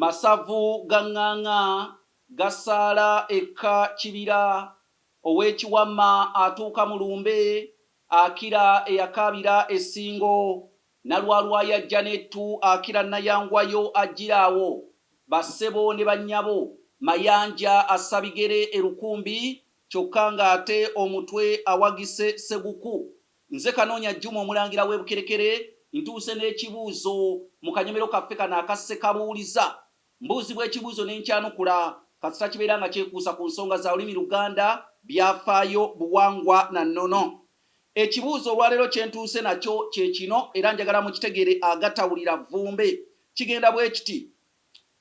Masavu ga ŋŋaŋa gasaala ekka kibira, ow'ekiwamma atuuka mu lumbe, akira eyakaabira e Ssingo, Nalwalwa y'ajja n'ettu, akira Nayangwayo ajjira awo, bassebo ne bannyabo, Mayanja assa bigere e Lukumbi kyokka ng'ate omutwe awagise Seguku, Nze Kanoonya Juma Omulangira w'e Bukerekere, ntuuse n'ekibuuzo mu kanyomero kaffe kano aka Ssekabuuliza. Mbuuzibwa ekibuuzo ne nkyanukula, kasita kibeera nga kyekuusa ku nsonga za lulimi Luganda, byafaayo, buwangwa na nnono. Ekibuuzo olwaleero kye ntuuse nakyo kye kino era njagala mukitegeere agatawulira vvumbe. Kigenda bwe kiti,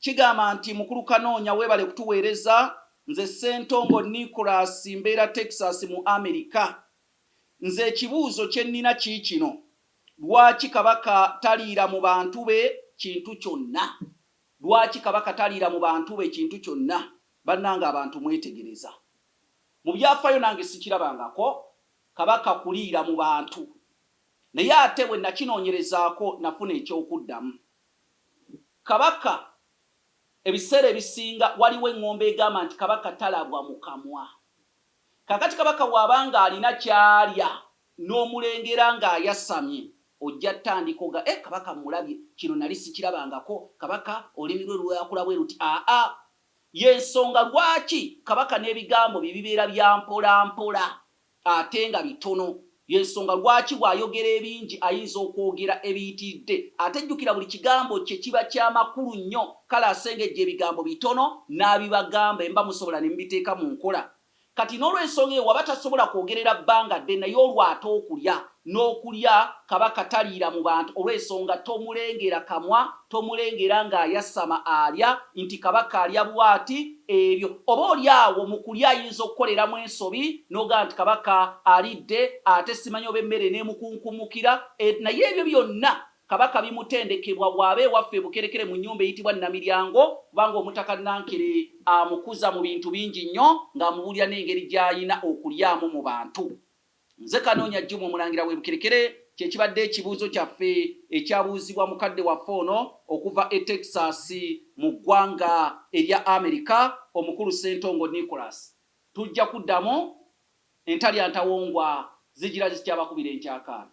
Kigamba nti, Mukulu Kanoonya weebale kutuweereza. Nze Ssentongo Nicholas mbeera Texas mu Amerika. Nze ekibuuzo kyennina kiikino, lwaki Kabaka taliira mu bantu be kintu kyonna? Lwaki Kabaka taliira mu bantu be kintu kyonna? Bannange abantu mwetegereza? Mu byaafayo nange sikirabangako Kabaka kuliira mu bantu. Naye ate bwe nakinoonyerezaako nafuna eky'okuddamu. Kabaka ebiseera ebisinga waliwo eng'ombe egamba nti Kabaka talabwa mu kamwa. Kaakati kabaka bw'aba nga alina ky'alya n'omulengera nga ayasamye, ojja tandika oga, Eh, kabaka mmulabye! Kino nnali ssikirabangako. Kabaka, olulimi lwe lwakula bwe luti, Aa-a! Y'ensonga lwaki kabaka n'ebigambo bye bibeera bya mpolampola ate nga bitono. Y'ensonga lwaki bw'ayogera ebingi ayinza okwogera ebiyitiridde. Ate jjukira buli kigambo kye kiba kya makulu nnyo. Kale asengejja ebigambo bitono n'abibagamba emba musobola ne mubiteeka mu nkola. Kati n'olwensonga eyo waba tasobola kwogerera bbanga ddene naye olwo ate okulya n'okulya Kabaka taliira mu bantu olw'ensonga tomulengera kamwa Tomulengera ng'ayasama alya nti Kabaka alya bw'ati, ebyo oba oli awo mu kulya ayinza okukoleramu ensobi n'ogamba nti Kabaka alidde ate simanyi oba emmere eneemukunkumukira e naye ebyo byonna Kabaka bimutendekebwa bw'aba ewaffe e Bukerekere mu nnyumba eyitibwa Namiryango kubanga Omutaka Nankere amukuza mu bintu bingi nnyo ng'amubuulira n'engeri gy'alina okulyamu mu bantu. Nze Kanoonya Jjuma Omulangira w'e Bukerekere kye kibadde ekibuuzo kyaffe ekyabuuzibwa mukadde waffe ono okuva e Texas mu ggwanga erya Amerika, Omukulu Ssentongo Nicholas. Tujja kuddamu entalya ntawongwa zigira zikyabakubira enkyakaana.